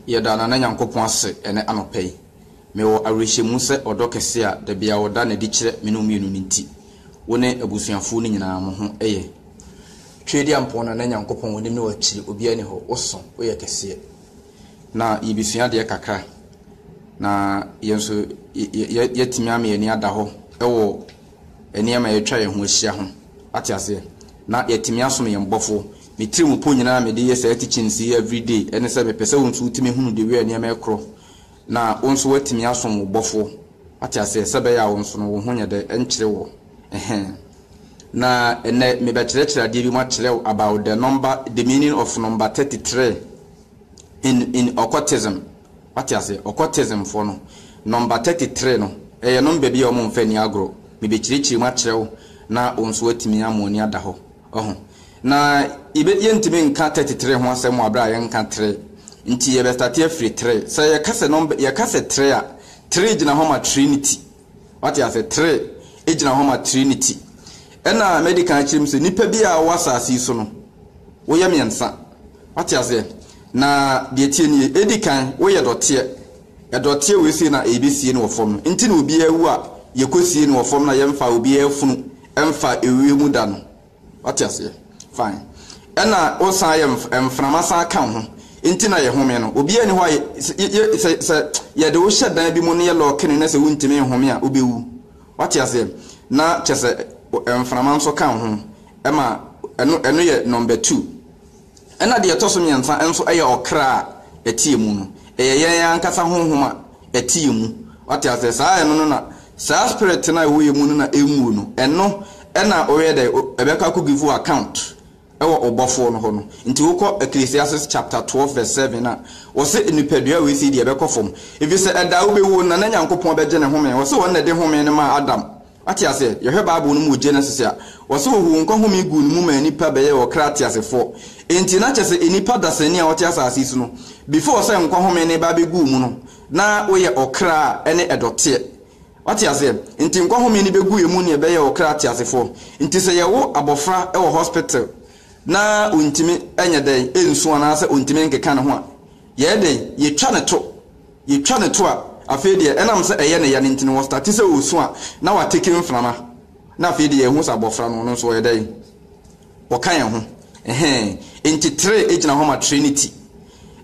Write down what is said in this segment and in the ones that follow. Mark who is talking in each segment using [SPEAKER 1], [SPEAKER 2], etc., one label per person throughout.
[SPEAKER 1] Yɛda Nana Nyankopɔn ase ɛnɛ anɔpa yi. Mewɔ awerɛhyɛmu sɛ ɔdɔ kɛse a da biara ɔda no adi kyerɛ me ne wo mmienu no nti, wo ne abusuafoɔ no nyinaa mo ho yɛ. Tweediampɔn Nana Nyankopɔn w'anim ne w'akyiri obiara nni hɔ, wo so, wo yɛ kɛseɛ. Na yɛbɛsua adeɛ kakra na yɛn nso yɛ yɛ yɛatumi ama yɛn ani ada hɔ wɔ nneɛma a atwa yɛn ho ahyia ho ate aseɛ na yɛatumi asom yɛn Bɔfo. Me tiri mu po nyinaa a mede yɛ saa teachings yi every day ɛne sɛ mepɛ sɛ wo nso wotumi hunu the way a nneɛma ɛkorɔ na wo nso woatumi asom wo Bɔfo ate aseɛ sɛ ɛbɛyɛ a wo nso no wo ho nyɛ dɛ ɛnkyere wo ɛhɛn. Na ɛnnɛ mebɛkyerɛkyerɛ adeɛ bi mu akyerɛ wo about the number, the meaning of number 33. in in occultism wate aseɛ occultism foɔ no number thirty three no ɛyɛ number bi a wɔn nfa ni agorɔ mebekyerɛkyerɛ mu akyerɛ wo na wɔn nso atumi ama wɔn ani ada hɔ ɔho na yɛbɛ yɛntumi nka thirty three ho asɛm wɔ abira yɛnka three nti yɛbɛ start afiri three sɛ yɛka sɛ number yɛka sɛ three a three gyina hɔ ma trinity Wate ase? Tre gyina hɔ ma Trinity. Ɛna mɛdi kan akyerɛ mu sɛ nnipa bi a wɔwɔ asase yi so no, woyɛ mmiɛnsa. Wate aseɛ? Na deɛ ɛteɛ nie, ɛdi kan, woyɛ dɔteɛ. Ɛdɔteɛ wei sei na yɛbɛsie no wɔ fam no. Nti na obiara wu a, yɛkɔsie no wɔ fam na yɛmfa obiara funu mfa ewiem da no. Wate aseɛ? Fine. Ɛna wo san yɛ mframa san ka wo ho. Nti na yɛ home no. Obiara ni hɔ a yɛ, yɛ, sɛ, sɛ yɛde wo hyɛ dan bi mu ne yɛ lɔɔke no na sɛ wontumi nhome a, wobɛwu. Wate aseɛ? Na kyɛ sɛ mframa nso ka wo ho. Ɛma, ɛno, ɛno yɛ number two. Ɛnna deɛ ɛtɔ so mmiɛnsa nso yɛ ɔkra a ɛteɛ mu no. Ɛyɛ yɛn ankasa honhom a ɛteɛ mu. Wate aseɛ? Saa, ɛno no na, saa spirit no a ɛwɔ yɛn mu no na ɛnwuo no, ɛno na woyɛ dɛn? O, ɛbɛkɔ akɔ give wo account wɔ wo Bɔfoɔ no hɔ no. Nti wokɔ Ecclesiastes chapter twelve verse seven a, wɔse nnipadua wei sei deɛ ɛbɛkɔ fam, ɛfiri sɛ ɛda a wobɛwuo no na na Nyankopɔn bɛgye ne home. Wɔse Ɔno na ɛde home no maa Adam Wate aseɛ? Yɛhwɛ Bible no mu wɔ Genesis a, wɔse wɔhuu nkwa home guu ne mu maa nnipa bɛyɛɛ ɔkra teasefoɔ. Enti na kyerɛ sɛ nnipa dasani a wɔte asase yi so no, before sɛ nkwa home no reba abɛgu wo mu no, na woyɛ ɔkra a ɛne ɛdɔteɛ. Wate aseɛ? Nti nkwa home no bɛgu yɛn mu ne ɛbɛyɛɛ ɔkra teasefoɔ. Nti sɛ yɛwo abɔfra wɔ hospital na ɔntumi nyɛ dɛn? Ɛnsu anaasɛ ɔntumi nkeka ne ho a, yɛyɛ dɛn? Yɛtwa no to. Yɛtwa no to a, afei deɛ ɛnam sɛ ɛyɛ ne ya no nti no, ɔstate sɛ ɔresu a, na watake mframa. Na afei deɛ yɛhu sɛ abɔfra no, ɔno nso ɔyɛ dɛn? Ɔka yɛn ho. Ɛhɛn. Enti tre gyina hɔ ma Trinity.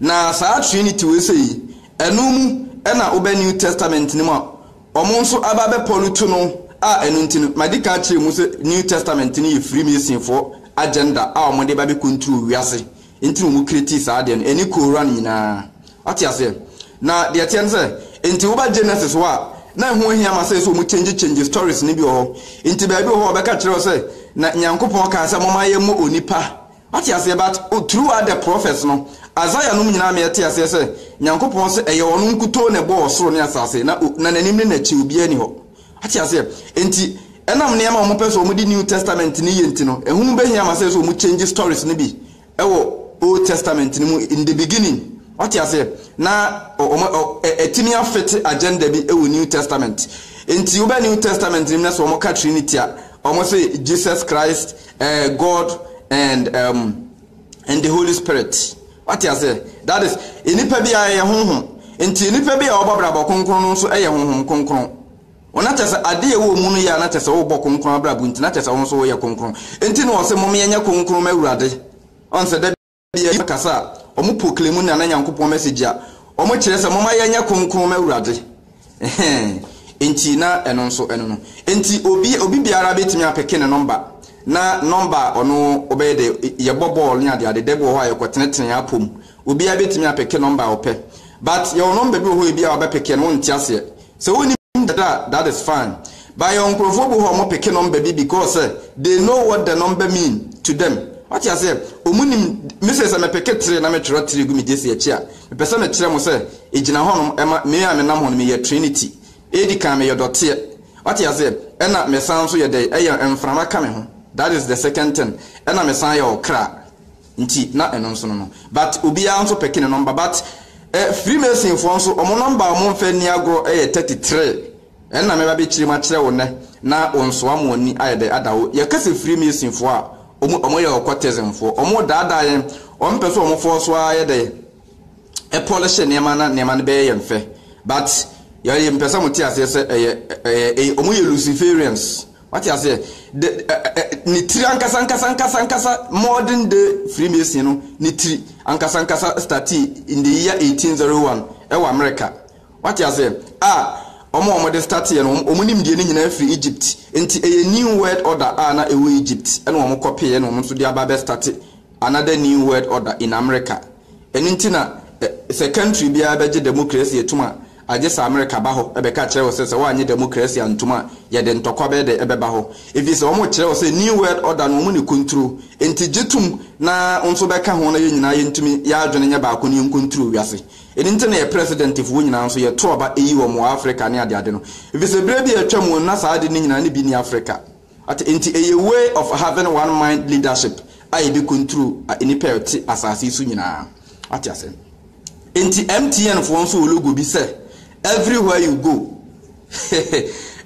[SPEAKER 1] Na saa Trinity wei sɛ yi, ɛno mu na wobɛ New Testament no mu a, wɔn nso aba abɛpɔlu to no a ɛno nti no, madi kan akyerɛ mu sɛ New Testament no yɛ Freemasonfoɔ agenda a wɔde ba abɛcontrol wiase. Enti na wɔ'creatii saa adeɛ no, ɛne Qur'aan nyinaa. W'ate aseɛ? Na deɛ ɛteɛ ne sɛ, enti woba Genesis hɔ a, na ɛho nhia ma sɛ sɛ wɔn change change stories no bi wɔ hɔ. Enti baabi wɔ hɔ a wɔ'bɛka kyerɛ wo sɛ, Na Nyankopɔn kaa sɛ momma yɛmmɔ onipa. W'ate aseɛ? But through out the prophets no, Isaiah nom nyinaa ma yɛ'te aseɛ sɛ, Nyankopɔn se ɛyɛ Ɔno nkutoo na ɛbɔɔ ɔsoro ne asaase, na na N'anim ne N'akyi obiara nni hɔ. Ate aseɛ? Enti, ɛnam nneɛma a wɔpɛ sɛ wɔde New Testament no yɛ nti no, ɛho bɛhia ma sɛ sɛ wɔkyɛngye stories no bi wɔ Old Testament no mu, in the beginning. Wate aseɛ? Na wɔn, ɔ, ɛ, atumi afete agenda bi wɔ New Testament. Enti, wobɛ New Testament no mu na sɛ wɔka Trinity a, wɔse Jesus Christ, ɛ, God and, um, and the holy spirit wate ase that is nipa bi a yɛ honhom nti nipa bi a ɔbɔ abrabɔ kronkron no nso yɛ honhom kronkron wɔn akyɛ sɛ adeɛ ɛwɔ mu no yɛ a n'akyɛ sɛ wobɔ kronkron abrabɔ nti n'akyɛ sɛ wɔn nso wɔyɛ kronkron nti na wɔsɛ mom yɛnyɛ kronkron ma awurade ɔn sɛ da bi a kasa a wɔn proclaim na na nyankopɔn message a wɔn kyerɛ sɛ mom ayɛnyɛ kronkron ma awurade Ɛhɛn, enti na ɛno nso ɛno no. Enti obi obi biara bɛtumi apeke ne nɔmba, na nɔmba a ɔno ɔbɛyɛ dɛ, yɛbɔ bɔɔl ne adeade, da bi wɔ hɔ a yɛkɔtenetene yɛn apɔ mu, obiara bɛtumi apeke nɔmba a ɔpɛ. But yɛwɔ nɔmba bi wɔ hɔ a ebia wobɛpekeɛ no wonte aseɛ. Sɛ wonim dada a, that is fine. But yɛwɔ nkorɔfoɔ bi wɔ hɔ a wɔpeke nɔmba bi because sɛ they know what the number mean to them. Wate aseɛ? Wɔnim, me sei sɛ mepeke three na metwerɛ three gu me gyesi akyi a, Mepɛ sɛ mekyerɛ mo sɛ egyina hɔnom ma me a menam hɔ no meyɛ Trinity. Edi kan meyɛ dɔteɛ. Wate aseɛ? Ɛna mesan nso yɛ dɛn? Ɛyɛ mframa ka me ho. That is the second thing. Ɛna mesan yɛ ɔkra. Nti na ɛno nso no no. But obiara nso pɛke ne nɔmba. But eh, Freemasonfoɔ nso, wɔn nɔmba a wɔmfa nni agorɔ yɛ thirty three. Ɛna mɛba bɛkyire mu akyerɛ wo nnɛ na wo nso ama w'ani ayɛ dɛ ada wo. Yɛka sɛ free masonfoɔ a, wɔn wɔn yɛ occultismfoɔ. Wɔn redaadaa yɛn. Wɔn pɛ sɛ wɔn fɔɔ so ara yɛ dɛn? Polish nneɛma na nneɛma no bɛyɛ yɛn fɛ. But yɛ yɛ mpɛ sɛ mo te aseɛ sɛ ɛyɛ ɛyɛ ɛyɛ wɔn yɛ Luciferians. Wate aseɛ? The ɛ ɛ ne tiri ankasa ankasa ankasa ankasa modern day free mason no ne tiri ankasa ankasa startee in the year 1801 ɛwɔ America. Wate aseɛ? A wɔn a wɔde stateɛ no, wɔn nimdeɛ no nyinaa firi Egypt. Enti ɛyɛ New World Order a na ɛwɔ Egypt na wɔn kɔpee ɛna wɔn nso de aba abɛ state another New World Order in America. Ɛno nti na ɛ, sɛ country biara bɛgye democracy atum a, agye sɛ America ba hɔ bɛka kyerɛ wo sɛ, sɛ woannye democracy antum a, yɛde ntɔkwa bɛyɛ dɛ ɛbɛba hɔ. Ɛfiri sɛ wɔn kyerɛ wo sɛ New World Order no wɔn na ɛkonturo. Enti gye tom na wo nso bɛka ho na yɛn nyinaa yɛntumi, yɛn adwene nyɛ baako na yɛnkonturo wiase. Eno nti na yɛ Presidentfoɔ nyinaa nso yɛto aba yi wɔn wɔ Africa ne adeade no. Efisɛ berɛ bi a atwa mu no na saa ade no nyinaa no bi nni Africa. Ate? Enti ɛyɛ way of having one mind leadership a yɛde control nnipa a wɔte asase yi so nyinaa. Wate ase? Enti MTN foɔ nso wɔ logo bi sɛ everywhere you go.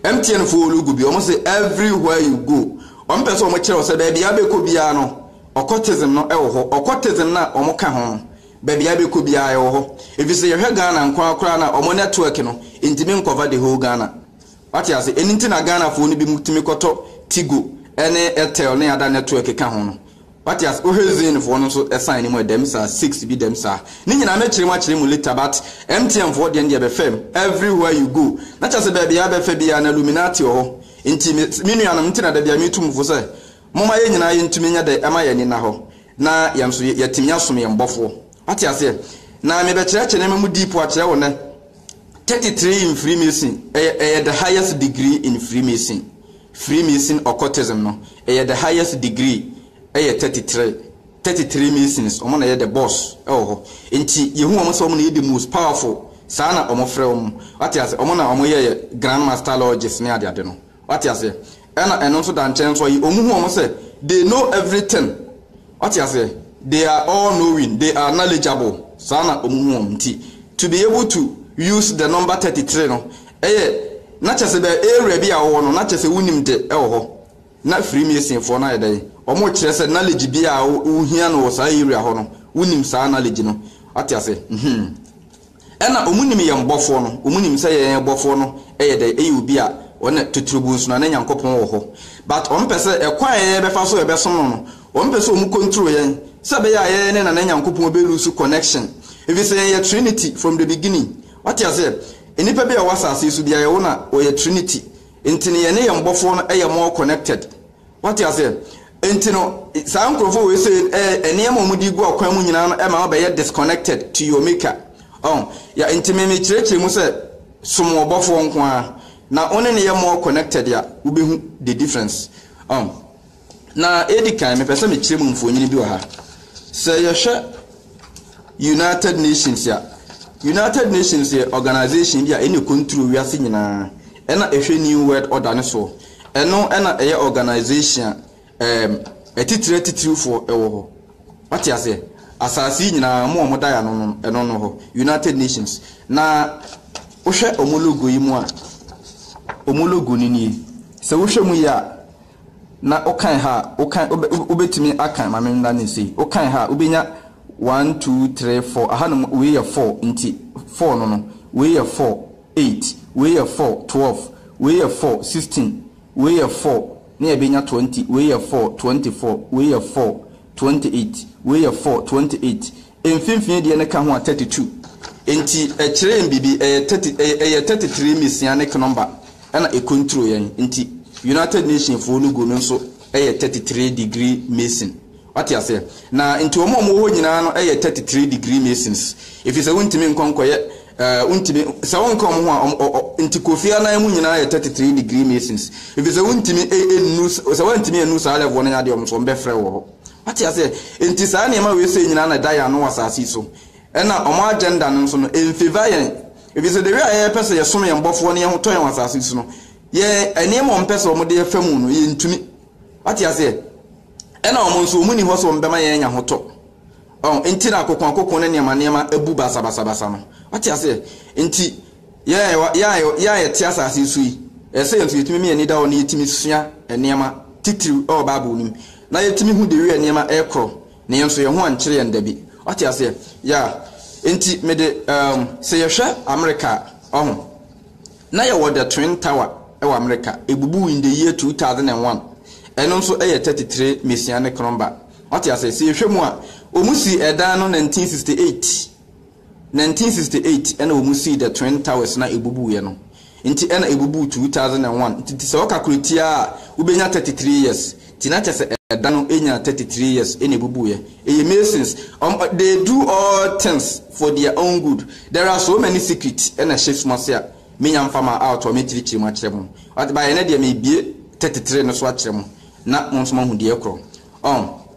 [SPEAKER 1] MTN foɔ wɔ logo bi, wɔn se everywhere you go. Wɔn pɛ sɛ wɔn kyerɛ wo sɛ baabi a bɛkɔ biara no, occultism no wɔ hɔ. Occultism no a wɔn ka ho no, Baabi a yɛbɛkɔ biara yɛwɔ hɔ efisɛ yɛhwɛ Ghana nko ara koraa no a wɔn network no ntumi nkɔva the whole Ghana. Wate ase? Ɛno nti na Ghanafoɔ no binom tumi kɔtɔ Tigo ne Airtel ne ada network ka ho no. Wate ase? Wohwɛ Zainfoɔ no nso sign no mu a dɛm saa, six bi dɛm saa. Ne nyinaa mɛkyerɛ mu akyerɛ mu later but MTNfoɔ deɛ no deɛ ɛbɛfa mu everywhere you go. Na kyerɛ sɛ baabi a yɛbɛfa biara no Illuminati wɔ hɔ. Nti me me nuanom nti na da biara metu mo fo sɛ Momma yɛn nyinaa yɛntumi nyɛ dɛ ɛma yɛn ani nna hɔ na yɛn nso yɛatumi asom yɛn Bɔfoɔ. Wate aseɛ? Na mebɛkyerɛkyerɛ nneɛma mu deep akyerɛ wo nnɛ. Thirty three in Freemason, ɛyɛ, ɛyɛ the highest degree in Freemason. Freemason occultism no, ɛyɛ the highest degree, ɛyɛ thirty three. Thirty three Masons, wɔn na ɛyɛ the boss ɛwɔ hɔ. Nti yɛhu wɔn sɛ wɔn na ɛyɛ the most powerful, saa na wɔfrɛ wɔn. Wate aseɛ? Wɔn na wɔyɛɛ yɛ Grand Master Lodges ne adeade no. Wate aseɛ? Ɛna ɛno nso da nkyɛn nso a, wɔn hu wɔn sɛ they know everything. Wate aseɛ? They are all knowing, they are knowledgeable. Saa na wɔn hu wɔn. Nti, to be able to use the number 33 no, ɛyɛ, na kyerɛ sɛ bɛ area bi a wɔwɔ no, na kyerɛ sɛ wonim de wɔ hɔ. Na Freemasonfoɔ no ayɛ dɛn? Wɔkyerɛ sɛ knowledge bi a wohia no wɔ saa area hɔ no, wonim saa knowledge no. Wate aseɛ? Mhmm. Ɛna ɔmo nim yɛn bɔfoɔ no, ɔmo nim sɛ yɛn bɔfoɔ no yɛ dɛn, yɛ obi a ɔne titiribu nso na ne Nyankopɔn wɔ hɔ. But ɔmo pɛ sɛ ɛkwan a yɛyɛ bɛfa so yɛbɛsom no no, ɔmo pɛ sɛ ɔmo control yɛn, sɛ ɛbɛyɛ a yɛn ne Nana Nyankopɔn bɛ lose connection. Ɛfiri sɛ yɛn yɛ Trinity from the beginning. Wate aseɛ? Nnipa bi a ɛwɔ asase yi so biara yɛwɔ na wɔyɛ Trinity. Nti no yɛne yɛn bɔfoɔ no yɛ more connected. Wate aseɛ? Enti no, saa nkorɔfoɔ wei sei, eh, nneɛma a wɔde gu ɔkwan mu nyinaa no ɛma wobɛyɛ disconnected to your maker. Ɔho? Ya, enti me mekyerɛkyerɛ mu sɛ, som ɔbɔfoɔ nko ara, na wo ne no yɛ more connected a, wobɛhu the difference. Ɔho? Na edi kan, mepɛ sɛ mekyerɛ mu mfoonyini bi wɔ ha. Sɛ yɛhwɛ. United Nations a, United Nations yɛ organisation bi a ɛna ɛcontrol wiase nyinaa, ɛna ɛhwɛ New World Order no soɔ. Ɛno ɛna ɛyɛ organisation a ɛɛm atitire atitirifoɔ ɛwɔ hɔ. Wate aseɛ? Asaase yi nyinaa mo a wɔda yɛ ano no ɛno no hɔ, United Nations. Na wohwɛ wɔn logo yi mu a, wɔn logo no nie. Sɛ wohwɛ mu yie a. Na wokan ha a, wokan, wobɛ, wobɛtumi akan, ma menna no sei, wokan ha a, wobɛnya one, two, three, four, ahanom wei yɛ four, nti four no no, wei yɛ four, eight, wei yɛ four, twelve, wei yɛ four, sixteen, wei yɛ four, na yɛbɛnya twenty, wei yɛ four, twenty-four, wei yɛ four, twenty-eight, wei yɛ four, twenty-eight, Mfimfini deɛ no ka ho a thirty two. Nti ɛkyerɛ yɛn biribi, ɛyɛ thirty ɛyɛ thirty three Messianic number ɛna ɛcontrol yɛn. Nti United Nation foɔ no go no nso ɛyɛ thirty three degree Mason. Wate aseɛ? Na nti wɔn a wɔwɔ hɔ nyinaa no ɛyɛ thirty three degree Masons. Ɛfiri sɛ wontumi nkɔ nkɔyɛ ɛɛ wontumi sɛ wonka wɔn ho a wɔn ɔ ɔ nti Kofi Annan mu nyinaa yɛ thirty three degree Masons. Ɛfiri sɛ wontumi ɛ ɛnnu sɛ woantumi annu saa level no yɛ adeɛ wɔn nso wɔbɛfrɛ wo wɔ hɔ. Wate aseɛ? Enti saa nneɛma wei sei nyinaa na ɛda yɛn ano wɔ asase yi so. Ɛna wɔn agenda no nso no, ɛnfavour yɛn. Ɛfiri sɛ the way a yɛpɛ sɛ yɛsom yɛn bɔfoɔ na yɛn ho tɔ yɛn wɔ asase yi so no, yɛn nneɛma a wɔpɛ sɛ wɔde fa mu no, yɛntumi. Wate aseɛ? Ɛna wɔn nso, wɔn nni hɔ sɛ wɔbɛma yɛn anya ho tɔ. Ɔn, enti na akoko akoko ne nneɛma nneɛma abu basabasabasa no. Wate aseɛ? Enti yɛn a yɛwɔ- yɛn a yɛwɔ- yɛn a yɛte asase yi so yi, ɛsɛ sɛ yɛn nso yɛtumi ma yɛn ani da hɔ na yɛtumi sua nneɛma titiriw wɔ Bible no mu. Na yɛtumi hu de wia nneɛma rekorɔ, na yɛn nso yɛn ho ankyere yɛn da bi. Wate aseɛ? Yeah. Enti me de, um, sɛ yɛhwɛ Amerika a, ɔho, na yɛwɔ The Twin Tower wɔ Amerika, ɛbubuu in the year 2001, ɛno nso yɛ 33 Messianic Number. Wate aseɛ? Sɛ yɛhwɛ mu a, wɔn sii ɛdan no 1968. 1968 na wɔn sii the twin towers na ebubuu yɛ no nti ɛna ebubuu 2001 nti nti sɛ ɔka koro tia a wobɛnya 33 years nti na kyɛsɛ ɛda no ɛnya 33 years ɛna ebubuu yɛ ɛyɛ masons um, they do all things for their own good there are so many secret ɛna ɛhyɛ suma se a menya mfa ma out a mɛkyirikyiri mu akyerɛ mo but baeɛ no deɛ mebie 33 no so akyerɛ mo na mo nso mahu deɛ korɔ um,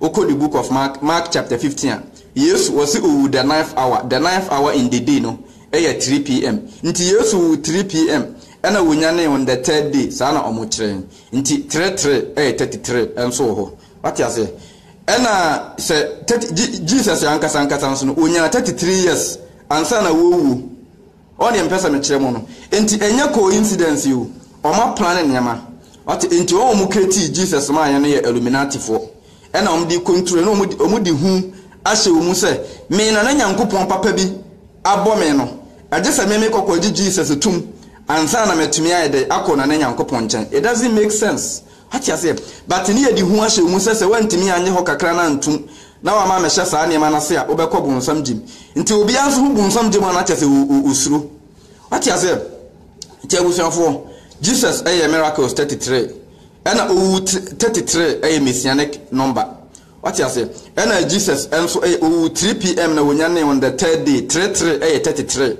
[SPEAKER 1] Wokɔ the book of Mark, Mark chapter fifteen a, Yesu, wɔse owuu the ninth hour, the ninth hour in the day no yɛ three PM, nti Yesu wuu three PM ɛna wonyanee on the third day, saa na ɔmo kyerɛ, nti three three ɛyɛ thirty three nso wɔ hɔ, wate aseɛ? Ɛna sɛ thirty, Je, Jesus ankasa ankasa nso no, onyaa thirty three years ansa na wawuo. Ɔɔ neɛ mepɛ sɛ mekyerɛ mo no nti ɛnyɛ coincidence o ɔma plan nneɛma wate nti wɔn a wɔn creatii Jesus maa yɛn no yɛ illuminati foɔ ɛna wɔn de control na wɔn de hu ahyɛ wɔn mu sɛ me na na Nyankopɔn papa bi abɔ me no ɛgye sɛ me me kɔ kɔ gye Jesus tum ansa na matumi ayɛ dɛ akɔ na na Nyankopɔn nkyɛn it doesn't make sense Wate aseɛ? But ne yɛde hu ahyɛ wo mu sɛ sɛ woantumi anyɛ hɔ kakra no antom na wama amɛhyɛ saa nneɛma no ase a, wobɛkɔ bonsam gyem. Nti obiara nso ho bonsam gyem a na kyerɛ sɛ o, o, osuro. Wate aseɛ? Nti abusuafoɔ, Jesus yɛɛ miracles thirty three, ɛna Owu thr, thirty three yɛ Messianic number. Wate aseɛ? Ɛna Jesus nso yɛ, Owu three PM na Onyanee on the third day, three three yɛ thirty three.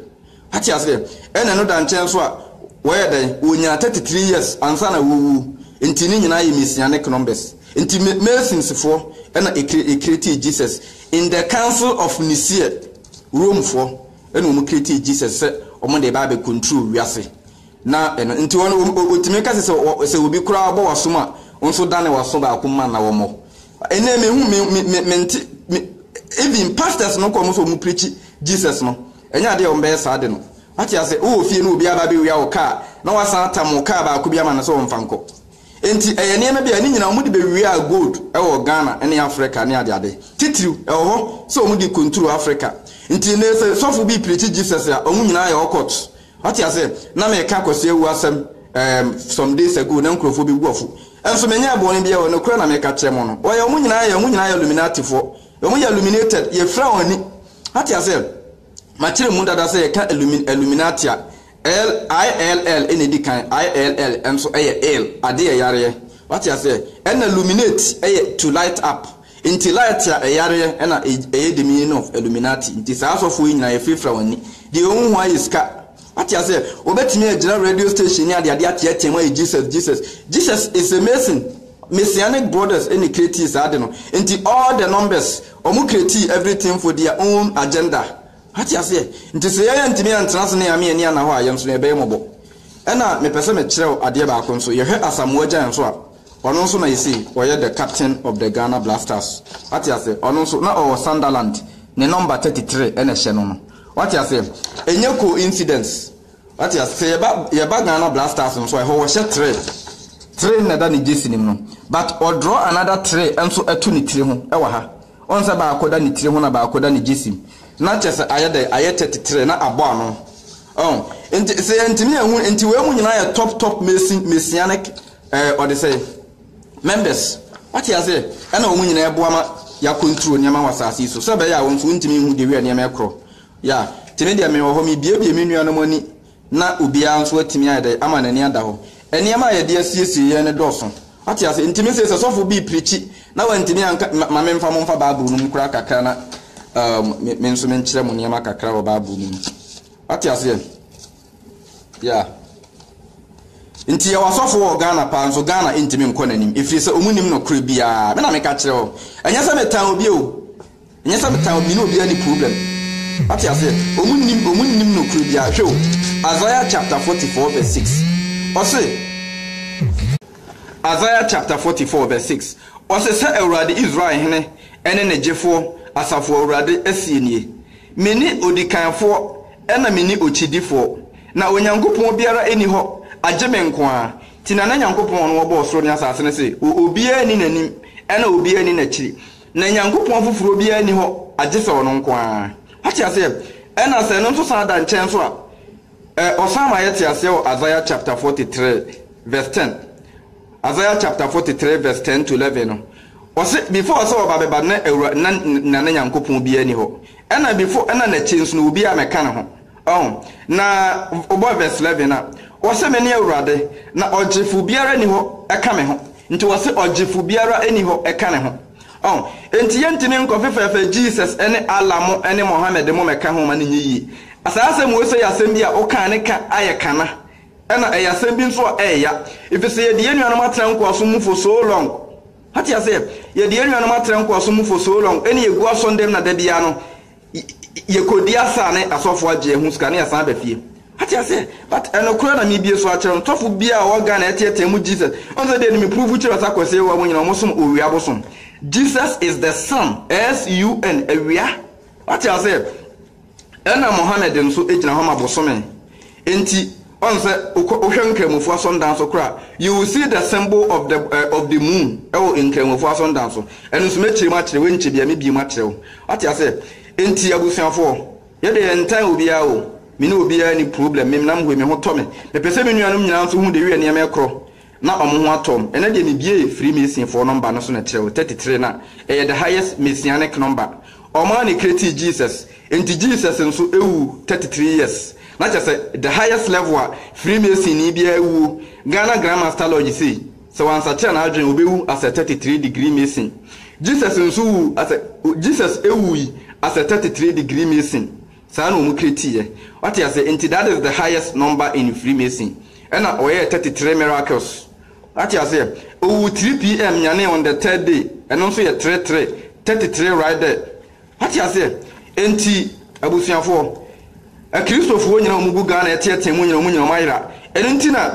[SPEAKER 1] Ate aseɛ? Ɛna ɛno da nkyɛn nso a, wɔyɛ dɛn? Wɔnya thirty three years ansa na wɔwuo. Nti ne nyinaa yɛ Messianic numbers. Nti ma Masons foɔ ɛna ɛkre ɛkretee Jesus in the council of Nicaea, Rome foɔ ɛna wɔn kretee Jesus sɛ wɔn de ɛba abɛ control wiase. Na ɛno nti wɔn wɔn ɔ ɔtumi ka sɛ sɛ ɔ sɛ obi koraa bɔ w'asom a, wo nso dane w'aso baako ma na wɔmmɔ. Ɛnnɛ mehu me me me mente me even pastors no kɔ wɔn sɛ wɔn preachi Jesus no. Ɛnyɛ ade a wɔbɛyɛ saa de no. Wate ase? Wowɔ fie na obi aba abɛwia wo kaa, na wasan atam wo kaa baako bi ama no sɛ ɔmfa nkɔ. Enti, ɛyɛ nneɛma bi a ne nyinaa wɔde bɛwia gold wɔ Ghana ne Afrika ne adeade. Titiriw, ɛwɔ hɔ sɛ wɔde rekonturo Afrika. Enti, nnɛ sɛ sɔfo bi preakyi Jesus a, wɔn nyinaa yɛ occult. Wate ase? Ná meka Kwasi Awu asɛm, ɛɛm, some days ago, na nkurɔfoɔ bɛgu afo. Nso menyɛɛ bɔne biara o, nokorɛ na meka kyerɛ mo no. Wɔyɛ, wɔn nyinaa yɛ, wɔn nyinaa yɛ Illuminatifoɔ. Ɔmo yɛ illuminated, yɛfira wɔn ani. Wate aseɛ? Makyerɛ mu dada sɛ yɛka illumi, illuminati a, ill, I-L-L na ɛdi kan, I-L-L nso yɛ ill, adeɛ yɛ yareɛ. Wate aseɛ? Ɛna illuminate yɛ to light up. Nti light a ɛyareɛ ɛna ɛyɛ the meaning of illuminati. Nti saa asɔfoɔ yi nyinaa yɛfirafira wɔn ani. Deɛ ɔhu ho ara yɛ sika. Ate aseɛ? Wɔbɛtumi agyina radio station ne adeade ateatea mu ayɛ Jesus, Jesus, Jesus is a mason, Messianic brothers na creatii saa ade no, nti all the numbers, wɔn creatii everything for their own agenda. Ate aseɛ? Nti sɛ yɛn antumi antena ase ne Yame ani anna hɔ a, yɛn nso no yɛbɛyɛ mmɔbɔ. Ɛna mepɛ sɛ mekyerɛ wo adeɛ baako nso, yɛhwɛ Asamoah Gyan nso a, ɔno nso na yɛsei ɔyɛ the captain of the Ghana Blasters. Ate aseɛ? Ɔno nso na ɔwɔ Sunderland, ne number 33 na ɛhyɛ no no. Wate aseɛ? Ɛnyɛ coincidence. Wate aseɛ? Sɛ yɛba, yɛba Ghana Black Stars nso a, ɛhɔ wɔhyɛ tray. Tray no na ɛda ne gyesi no mu no. But ɔdraw another tray nso ɛto ne tiri ho ɛwɔ ha. Ɔhu sɛ baako da ne tiri ho na baako da ne gyesi mu. Na kyerɛ sɛ ayɛ dɛn? Ayɛ tɛte tray na abɔ ano. Ɔho? Nti sɛ yɛntumi anhu, nti wei mu nyinaa yɛ top top mason, messianic ɛɛ ɔde sɛe. Members, wate aseɛ? Ɛna wɔn nyinaa boa ma yɛacontrol nneɛma wɔ asase yi so, sɛ ɛbɛyɛ a wɔn nso wɔntumi nhu the way a nneɛma ɛkorɔ. Yeah, nti me deɛ mewɔ hɔ, merebuebue me nuanom ani na obiara nso atumi ayɛ dɛn ama n'ani ada hɔ. Nneɛma a yɛde asiesie yɛn no dɔɔso, wate aseɛ? Nti me se sɛ sɔfo bi repreachi na wantumi anka, ma memfa mo mfa Bible no mu koraa kakra na um, me nso menkyerɛ mo nneɛma kakra wɔ Bible no mu. Wate aseɛ? Yeah. Nti yɛwɔ asɔfo wɔ Ghana paa nso Ghana ntumi nkɔ n'anim ɛfiri sɛ ɔmu nim nokorɛ biara. Me na meka kyerɛ hɔ. Ɛnyɛ sɛ metan obi o. Ɛnyɛ sɛ metan obi ne obiara ni problem. Wate aseɛ? Ɔmu nim ɔmu nim nokorɛ biara. Hwɛ o, Isaiah chapter 44 verse 6. Ɔse, Isaiah chapter 44 verse 6. Ɔse, Sɛ Awurade Israel hene ne ne gyefoɔ, Asafo Awurade seɛ nie, Mene odikanfoɔ Ɛna mene okyidifoɔ, na Onyankopɔn biara nni hɔ agye me nko ara, nti na na Nyankopɔn ɔno ɔbɔɔ soro ne asaase no se wɔ obiara nni n'anim ɛna obiara nni n'akyiri, na Nyankopɔn foforɔ biara nni hɔ agye sɛ ɔno nko ara. Wate aseɛ? Ɛna sɛ ɛno nso san da nkyɛn nso a, ɛ, ɔsan ma yɛte aseɛ wɔ Isaiah chapter 43 verse 10, Isaiah chapter 43 verse 10 to 11 no ɔse before sɛ ɔba bɛba na awura na na ne Nyankopɔn biaa ni hɔ ɛna before ɛna nakyi nso no obiaa mɛka ne ho ɔho na ɔbɔ verse 11 a ɔse mene awurade na ɔgyefo biara ni hɔ ɛka me ho nti ɔse ɔgyefo biara ɛni hɔ ɛka ne ho ɔho ɛnti yɛntimi nkɔ fefɛɛfɛ Jesus ɛne Allah mo ɛne Mohammed mo mɛka ho ma ne nyɛ yie saa asɛm wei sɛ yɛ asɛm bi a ɔkaa ne ka ayɛ kana Ɛna ɛyɛ asɛm bi nso a ɛɛya efisɛ yɛde yɛn nuanom atena nkoasom mu for so long. Wate aseɛ? Yɛde yɛn nuanom atena nkoasom mu for so long ɛne yɛgu asɔndan mu na da biara no yɛkɔdi asa ne asɔfoɔ agye yɛn ho sika ne yɛasan aba fie. Wate aseɛ? But ɛnokorɛ na mebie so akyerɛ wo, sɔfo biara a ɔwɔ Ghana a ɛteatea mu Jesus, wohu sɛ deɛ nim me prove kyerɛ wo sɛ Akwasi Yehowa mu nyinaa wɔsom owia bosom. Jesus is the sun, S-U-N, awia. Wate aseɛ? Ɛna Mohammed nso gyina hɔ ma bosome, enti ɔn sɛ wokɔ wohwɛ Nkramofo asɔndan so koro a, you will see the symbol of the of the moon wɔ Nkramofo asɔndan so. Ɛno nso mɛkyerɛ mu akyerɛ wo, ɛnkyɛ biara mɛbie mu akyerɛ wo. Wate aseɛ? Enti abusuafoɔ, yɛ deɛ yɛntan obiara o, me ne obiara nni problem, menam hɔ yi, me ho tɔ me. Mepɛ sɛ me nuanom nyinaa nso hu the way a nneɛma korɔ, Na wɔn ho atɔ me. Ɛnɛ deɛ mebiee Freemasonfoɔ nɔmba no so na kyerɛw thirty three na ɛyɛ the highest Messianic number. Wɔn ara na ɛcreatee Jesus. Enti Jesus nso wuu thirty three years. Na kyerɛ sɛ the highest level a Freemasonni biara wuo, Ghana Grand Master Lodge sei, sɛ wansakyera n'adwene ɔbɛwu as a thirty three degree Mason. Jesus nso wuu as a Jesus wuui as a thirty three degree Mason. Saa na wɔn creatiiɛ. Wate aseɛ? Nti that is the highest number in Freemason. Ɛna ɔyɛɛ thirty three miracles. Wate aseɛ? Ɔwuu three PM nyanee on the third day. Ɛno nso yɛ three three. Thirty three right there. Wate aseɛ? Nti abusuafoɔ, Akristofoɔ nyinaa a wɔgu Ghana ɛteɛteɛ mu nyinaa, wɔn nyinaa wɔayera. Ɛno nti na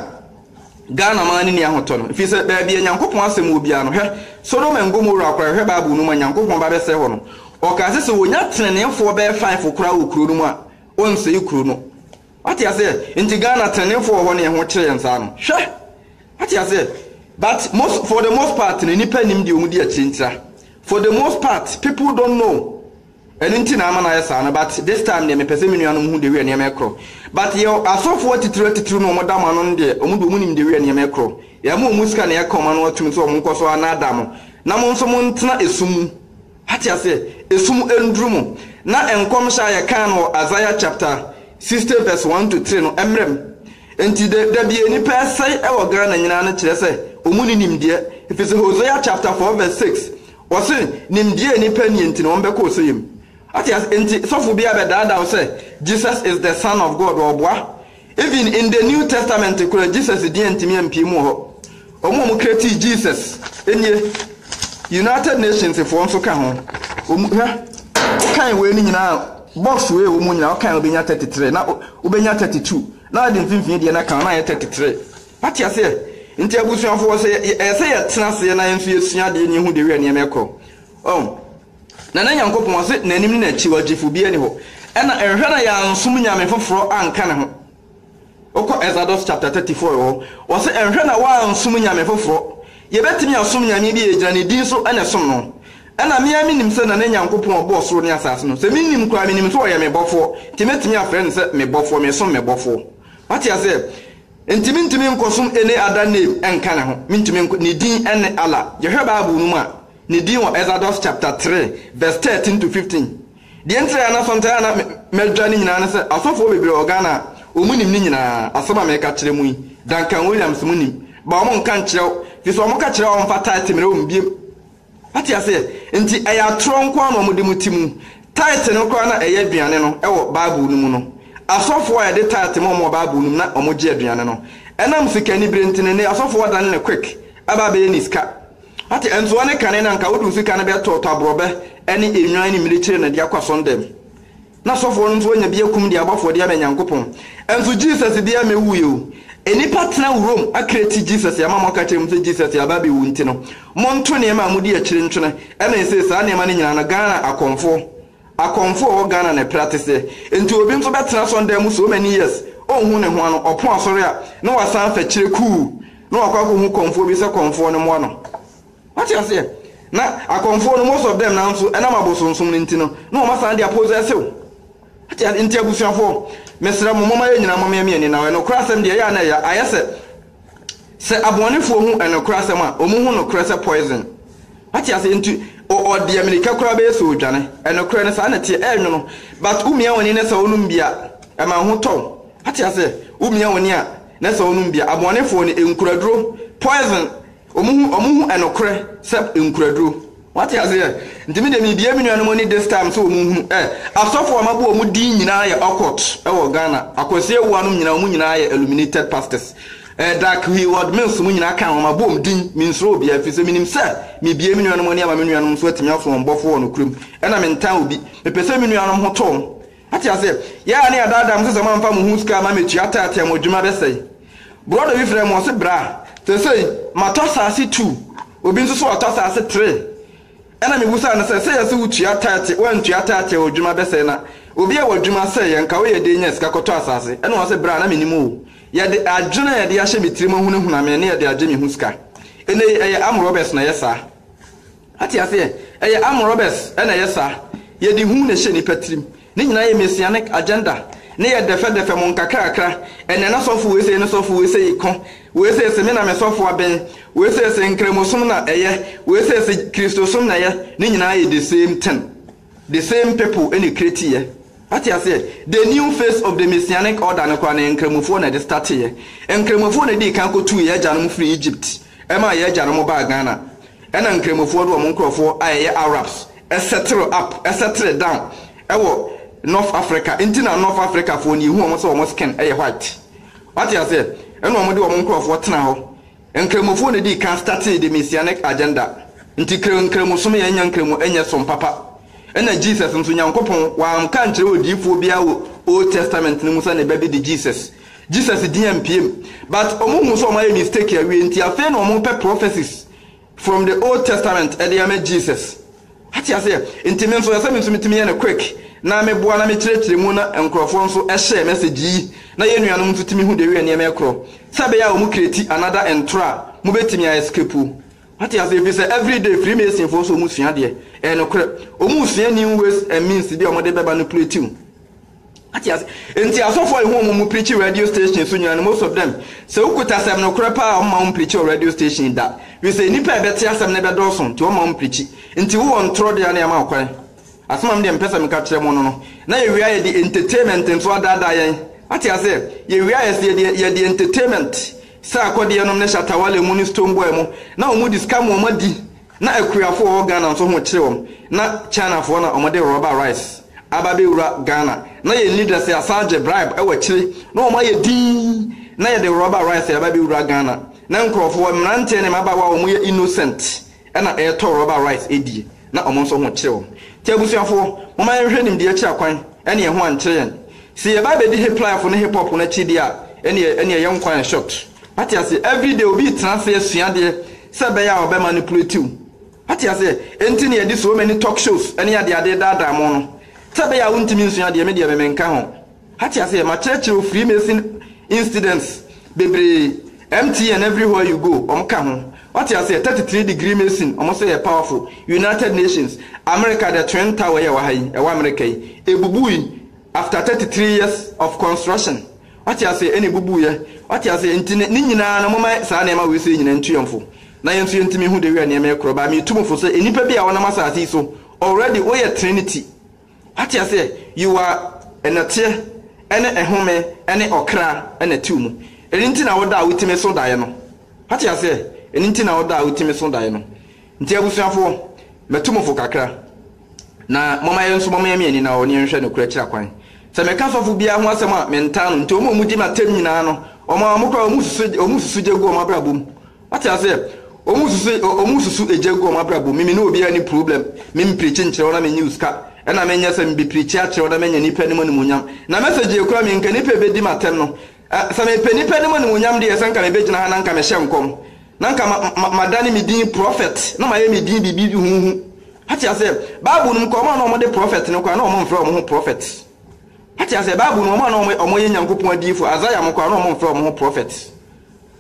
[SPEAKER 1] Ghana man no nni ahotɔ no ɛfiri sɛ baabi a Nyankopɔn asɛm wɔ biara no hwɛ Sodom and Gomorrah koraa yɛhwɛ bible no mu a Nyankopɔn ba bɛsɛe hɔ no ɔkaa sɛ sɛ wɔnya teneneefoɔ bɛyɛ five koraa wɔ kuro no mu a ɔnsɛe kuro no wate aseɛ nti Ghana teneneefoɔ wɔ hɔ ne ɛho kyerɛ yɛn saa no hwɛ wate aseɛ but most for the most part no nipa nim deɛ ɔmu di akyire ntira for the most part people don't know Ɛno nti na ama no ayɛ saa no but this time deɛ mepɛ sɛ me nuanom hu dewiɛ nneɛma ɛkorɔ but yɛ asɔfoɔ atitire atitire no ɔmo da mo ano no deɛ ɔmo deɛ ɔmo nim dewiɛ nneɛma ɛkorɔ yɛ ma ɔmo sika na yɛ ka ɔmo ano atum sɛ ɔmo nkɔ so anaadaa mo na mo nso mo ntena ɛsum mu wate aseɛ ɛsum ɛnduru mo na nkɔmhyɛ a yɛ kaa no wɔ Isaiah chapter 60 verse 1 to 3 no ɛmmerɛ mo nti da da bia nipa ɛsɛe ɛwɔ Ghana nyinaa no kyerɛ sɛ ɔmo ni nimdeɛ ɛfiri sɛ Hosea chapter 4 verse 6 Wɔse nimdeɛ nni pɛ nie nti na wɔn bɛkɔ ɔsɛeɛ mu. Wate ase? Nti sɔfo biara bɛdaadaa wo sɛ Jesus is the son of God ɔɔboa. Even in the new testament koraa Jesus din antumi ampie mu wɔ hɔ. Wɔn a wɔn createe Jesus nie. United Nations foɔ nso ka ho. Wɔn, hwɛ, wo kan wei no nyinaa, box wei a ɛwɔ mu nyinaa, wo kan wobɛnya 33, na wobɛnya 32, na wode mfimfini deɛ no aka ho na ayɛ 33. Wate aseɛ? Nti abusuafoɔ, sɛ yɛ, ɛyɛ sɛ yɛtena aseɛ na yɛn nso yɛsua adeɛ na yɛhu deɛ wia nneɛma ɛkorɔ. Ɔho? Na na Nyankopɔn, Ɔse, N'anim ne N'akyi, Ɔgyefoɔ biara nni hɔ. Ɛna nhwɛ na yɛansom nyame foforɔ anka Ne ho. Wokɔ Exadus chapter 34 hɔ, Ɔse, Nhwɛ na woansom nyame foforɔ. Yɛbɛtumi asom Nyame bi a yɛgyina Ne din so na ɛsom no? Ɛna me ara menim sɛ na ne Nyankopɔn a Ɔbɔɔ soro ne asaase no, sɛ mennim koraa, menim sɛ Ɔyɛ me Bɔfoɔ, nti mɛtumi afrɛ No sɛ me Bɔfoɔ, mesom me Bɔfoɔ. Wate aseɛ? Enti mentumi nkɔsom any other name nka ne ho, mentumi nkɔ, ne din ne Allah. Yɛhwɛ Bible no mu a, ne din wɔ Exodus chapter three verse thirteen to fifteen. Deɛ nti a na sometimes a na madwa no nyinaa ne sɛ, asɔfoɔ bebree wɔ Ghana a, wɔn nim ne nyinaa, asɛm a mereka kyerɛ mo yi, Duncan Williams mo nim, but wɔn nka nkyerɛ wo, firi sɛ wɔn ka kyerɛ wo a wɔn fa title mmerɛ wɔn biom. Wote aseɛ? Enti ɛyɛ atorɔ nko ara na wɔde mo ti mu. Tithe no koraa na ɛyɛ aduane no wɔ Bible no mu no. Asɔfoɔ a yɛde tithe ma wɔn wɔ Bible no mu na wɔgye aduane no. Ɛnam sikanibere nti no, ɛnnɛ asɔfoɔ adane no quick aba abɛyɛ ne sika. Woate? Ɛnso ɛne kane no anka wode wo sika no bɛtɔɔtɔ aborɔbɛ ne nnwan ne mmirekyire na de akɔ asɔndam. Na sɔfoɔ no nso anya bi akum de abɔ afɔdeɛ ama Nyankopɔn. Nso Jesus biara mmɛwuuɛ o. Nnipa tena wurom akra ti Jesus ama moaka kyerɛ mu sɛ Jesus aba abɛwu nti no monto nneɛma a modi akyire ntwene ɛna ɛsei saa nneɛma no nyinaa no Ghana akɔmfoɔ akɔmfoɔ a ɔwɔ Ghana na ɛpere ateseɛ nti obi nso bɛtena sɔndan mu so many years ɔnhu ne ho ano ɔpo asɔre a na wasan afɛkyerɛ kuu na wakɔ akɔhu kɔmfoɔ bi sɛ kɔmfoɔ no mmoa no. Wate aseɛ? Na akɔmfoɔ no, most of them naa nso, ɛnam abosonsom no nti no, na wɔn asan de apossess wo. Wate aseɛ? Nti abusuafoɔ, mesrɛ mo, momma yɛn nyinaa mmoa yɛn ani na wɔn nokorɛ asɛm deɛ, ɛyɛ a na ɛya, ayɛ sɛ, sɛ abɔnefoɔ hu nokorɛ asɛm a, wɔn hu nokorɛ sɛ poison. Wate aseɛ? Nti ɔ, ɔ deɛ mirika koraa bɛyɛ sɛ ɔredwane. Nokorɛ no, saa na ɛteɛ, ɛrenwono, but wo mia w'ani na sɛ wonom bi a, ɛma wo ho tɔ wo. Wate aseɛ? Wo mia w'ani a, na sɛ wonom bi a, abɔnefoɔ no, nkuraduro, poison, Ɔmo hu ɔmo hu ɛnokorɛ sɛ nkuraduro. Wate aseɛ? Nti me deɛ me bue me nuanom ani this time sɛ ɔmo nhunu ɛ asɔfo a mabɔ ɔmo din nyinaa yɛ ocult ɛwɔ Ghana Akwasi Awuah nom nyinaa ɔmo nyinaa yɛ illuminated pastors ɛ dark he word me nso mo nyinaa ka ho mabɔ ɔmo din me nsuro obiaa ɛfiri sɛ menim sɛ me bue me nuanom ani ama me nuanom nso atumi aso wɔn bɔfoɔ wɔ nokorɛ mu ɛna me ntan obi me pɛ sɛ me nuanom ho tɔ ɔmo Ate aseɛ? Yɛ a ne yɛadaadaa mo sɛ sɛ moamfa mo ho sika amma metua a tithe a mo adwuma bɛsɛe. Brɔda bi frɛɛ me, ɔse, Bra, seesei matɔ asaase two, obi nso so ɔtɔ asaase three. Ɛna mebusaa no sɛ, sɛ yɛse wotua tithe, woantua tithe a w'adwuma bɛsɛe na obi a w'adwuma sɛeɛ nka woyɛ dɛn nyaa sika kɔtɔ asaase? Ɛna ɔse, Bra, na mennim oo, yɛde adwene a yɛde ahyɛ me tirim ahunahuna me ne yɛde agye me ho sika. Ɛnnɛ yi ɛyɛ armed robbers na ɛyɛ saa. Ate aseɛ? Ɛyɛ arm robbers na ɛyɛ saa. Yɛde hu na ɛhyɛ nnipa tirim. Ne nyinaa yɛ Messianic agenda. Ne yɛ dɛfɛdɛfɛ mo nkakrakra. Ɛnɛ na sɔfo wei sei ne sɔfo wei sei ko. Wei sei se me na me sɔfo aben. Wei sei se Nkramosom na ɛyɛ. Wei sei se Kristosom na ɛyɛ. Ne nyinaa yɛ the same thing. The same people na ɛcreatiiɛ. Ate aseɛ? The new face of the Messianic order no koraa no yɛ Nkramofoɔ na ɛde starteeɛ. Nkramofoɔ na ɛdii kan kɔtuu yɛn agyanom firii Egypt. Ɛmaa yɛ agyanom baa Ghana. Ɛna Nkramofoɔ de wɔn nkorɔfoɔ a ɛyɛ Arabs settle up, settle down, wɔ North Africa. Nti na North Africafoɔ no yɛhu wɔn sɛ wɔn skin yɛ white. Wate aseɛ? Ɛna wɔn de wɔn nkorɔfoɔ tenaa hɔ. Nkramofoɔ na ɛdii kan startee the Messianic agenda. Nti kra Nkramosom yɛ nya Nkramo nyɛ som papa. Ɛna Jesus nso Nyankopɔn wamka ankyerɛ odiyifoɔ biara wɔ Old Testament no mu sɛ ne ba bi de Jesus Jesus din ammpue mu but ɔmo hu sɛ ɔmo ayɛ mistake awie nti afei na ɔmo pɛ prophecies from the old testament de ama Jesus wate aseɛ nti me nso ɛsɛ me nso metumi yɛ no quick na me boa na me kyerɛkyerɛ mu na nkorɔfoɔ nso share message yi na yɛn nuanom nso tumi hu the way nneɛma ɛkorɔ sɛ ɛbɛyɛ a ɔmo create another ntorɔ a mobɛtumi a escape wate aseɛ ɛfiri sɛ everyday freemason foɔ nso ɔmo sua adeɛ ɛyɛ nokorɛ ɔmo sua new ways and means bi a ɔmo de bɛba no plate mu. Ate ase? Ntsi asɔfo a yehu wɔn mu preachi radio station so nyina no most of them, sɛ wo kuta asɛm no korɛ paa a wɔmma wɔn preachi wɔ radio station da, firi sɛ nnipa a ɛbɛte asɛm no bɛdɔɔso nti wɔmma wɔn preachi. Ntsi wo wɔ ntorɔ dea na yɛama wo kwan. Asɛm a me deɛ mepɛ sɛ meka kyerɛ mo no no, na yɛwie a yɛde entertainment nso adaadaa yɛn. Ate aseɛ? Yɛwie a yɛse yɛde yɛde entertainment, sɛ akɔdeɛ nom ne shatawale mu ne stone boy mo, na wɔn de sika mo wɔn adi, Na akuafo wɔ hɔ Ghana nso ho kyere wɔn na China foɔ na wɔn de rubber rice aba abɛ wura Ghana na yɛn leader sɛ asan gye bribe wɔ akyire na wɔn ayɛ dinn na yɛde rubber rice aba abɛ wura Ghana na nkorɔfoɔ mmeranteɛ ne mmabaawa a wɔn yɛ innocent na ɛretɔ rubber rice ɛdie na wɔn nso ho kyere wɔn nti abusuafoɔ momma yɛn hwɛ nimdeɛ kyira kwan ɛne yɛn ho ankyere yɛn se yɛba abɛdi hiplyfo ne hipop no akyi deɛ a ɛneɛ ɛneɛ yɛn kwan short. Wate aseɛ? Everyday obi retena ase asua adeɛ sɛ ɛbɛyɛ a ɔbɛmanipulate wo. Wate aseɛ? Enti na yɛde so many talk shows ne adeade daadaa mo no. Sɛ ɛbɛyɛ a wontumi nsua adeɛ, me deɛ me menka ho. Wate aseɛ? Makyerɛkyerɛ wo Freemason incidents bebree, MTN everywhere you go, wɔn ka ho. Wate aseɛ? Thirty three degree Mason, wɔn sɛ yɛ powerful. United Nations, America the Twin Tower yi a ɛwɔ ha yi, ɛwɔ America yi, ɛbubui after thirty three years of construction. Ɔte ase ɛna ebubuiɛ. Ɔte ase, nti ne ne nyinaa no momma saa nneɛma wei sei nyinaa ntu yɛn fo. Na yɛn nso yɛntumi nhu dawia nneɛma yɛ korɔ but metu mo fo sɛ nnipa bi a wɔnam asase yi so already woyɛ trinity. Wate aseɛ? You are ɛnɛteɛ ɛne ɛhome ɛne ɔkra ɛna ɛtew mu. Ɛno nti na wo da a wotumi so daeɛ no. Wate aseɛ? Ɛno nti na wo da a wotumi so daeɛ no. Nti abusuafoɔ, mɛtu mo fo kakra, na momma yɛn nso momyɛ me ani na ɔne yɛnhwɛ nokorɛ akyiri akwan. Sɛ meka sɔfo biara ho asɛm a, mentaa no, nti wɔn a wɔgye me atam nyinaa no, wɔn ara wɔn koraa wɔsusu, wɔsusu gya gu wɔn abrabɔ mu. Wate aseɛ? Wɔsusu, wɔsusu gya gu wɔn abrabɔ mu. Me, me ne obiara nni problem, me mpreachi nkyerɛ wo na mennye wo sika, ɛna menyɛ sɛ mebepreachi akyerɛ wo na manya nnipa anim animuonyam. Na message yɛ koraa me nka nnipa a ɛbɛdi me atɛm no, A Sɛ mepɛ nnipa anim animuonyam deɛ, sɛ anka mebɛgyina ha na anka mehyɛ nkɔm, na anka ma, ma, madane me din prɔfɛt, na mayɛ me din biribi huhuhu. Wate aseɛ? Bible no mu koraa, wɔn a na wɔde prɔfɛt no koraa, na wɔmfrɛ wɔn ho prɔfɛt. Wate aseɛ? Bible no mu, wɔn a na wɔyɛ, wɔyɛ Nyankopɔn adiyifoɔ, Isaiah mo koraa, na wɔmfrɛ wɔn ho prɔfɛt.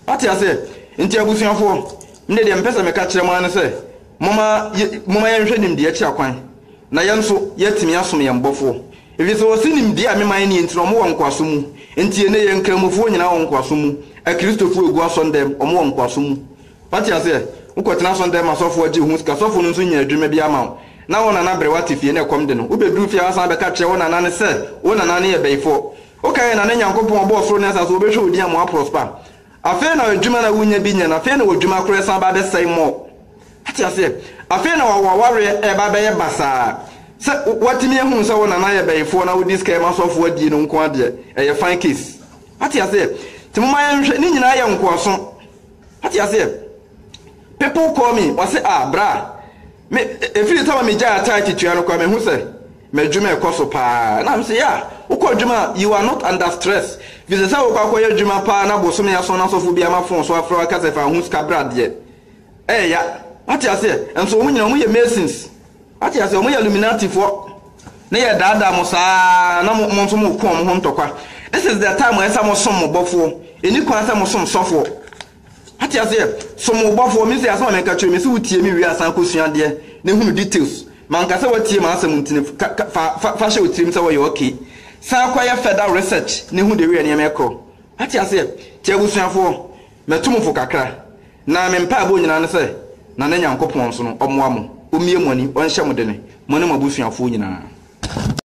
[SPEAKER 1] Wate aseɛ? Nti abusuafoɔ, me deɛ mepɛ sɛ meka kyerɛ mo ara ne sɛ, momma, yɛ, momma yɛnhwɛ nimdeɛ kyerɛ kwan, na yɛn nso, yɛatumi asom yɛn Bɔfoɔ. Efisɛ wɔse nimdeɛ a mema yɛn nie nti na wɔwɔ nkoasom mu. Enti ɛnnɛ yɛn Nkramofoɔ nyinaa wɔ nkoasom mu. Akristofoɔ a wɔgu asɔndɛm, wɔwɔ nkoasom mu. Wate aseɛ? Wokɔtena asɔndɛm ma sɔfoɔ agye wo ho sika, sɔfoɔ no nso nnya adwuma biara mma wo, na wo nana brɛ wo ate fie na ɛkɔm de no, wobɛduru fie a woasan abɛka akyerɛ wo nana no sɛ wo nana no yɛ bayifoɔ. Woka yɛn nana Nyankopɔn a ɔbɔɔ soro ne asase a ɔbɛhwɛ wo din ama woaprɔspa. Afei na adwuma na wonya bi nyɛ no afei na odwuma koraa san ba bɛsɛe more. Wate aseɛ? Afei na wa w'awareɛ ɛɛba abɛyɛ basaa. Sɛ watumi ahunu sɛ wo nana yɛ bɛyifoɔ na wodi sika yɛ m'asɔfoɔ adie no nko ara deɛ ɛyɛ fine case. Wate aseɛ? Nti momma yɛnhwɛ, ne nyinaa yɛ nkoaso. Wate aseɛ? People call me, wɔse ah bra. Me, ɛfiri sɛ na megyae atae titua no koraa, mehu sɛ m'adwuma rekɔ so pa ara. Na me se, yɛ a wokɔ adwuma a, you are not under stress. Ɛfiri sɛ sɛ wokɔ akɔyɛ adwuma pa ara na bosome ason na sɔfo bi ama fon so afrɛ wo aka sɛ fa ho sika bra deɛ, ɛreya. Wate aseɛ? Nso wɔn nyinaa, wɔyɛ Masons. Wate aseɛ? Wɔyɛ Illuminatifoɔ. Ne yɛredaadaa mo saa ara na mo, mo nso moreko wɔn ho ntɔkwa. This is the time a ɛsɛ sɛ mosom mo bɔfoɔ. Ɛnni kwan sɛ mosom sɔfoɔ. Wate aseɛ? Som wo bɔfoɔ. Me nso asɛm a mɛka kyerɛ wo, mese wo tie me wie a san kɔsua adeɛ na hunu details. Manka sɛ woatie m'asɛm ntini ka ka fa fa fa hyɛ wo tirim sɛ woyɛ okay. San kɔyɛ further research na hu the way a nneɛma ɛkorɔ. Wate aseɛ? Nti abusuafoɔ, matu mo fo kakra. Na me mpaebɔ nyinaa ne sɛ Nana Nyankopɔn nso no ɔmmoa mo, ɔmmie mo ani, ɔnhyɛ mo dene, mo ne mo abusuafoɔ nyinaa.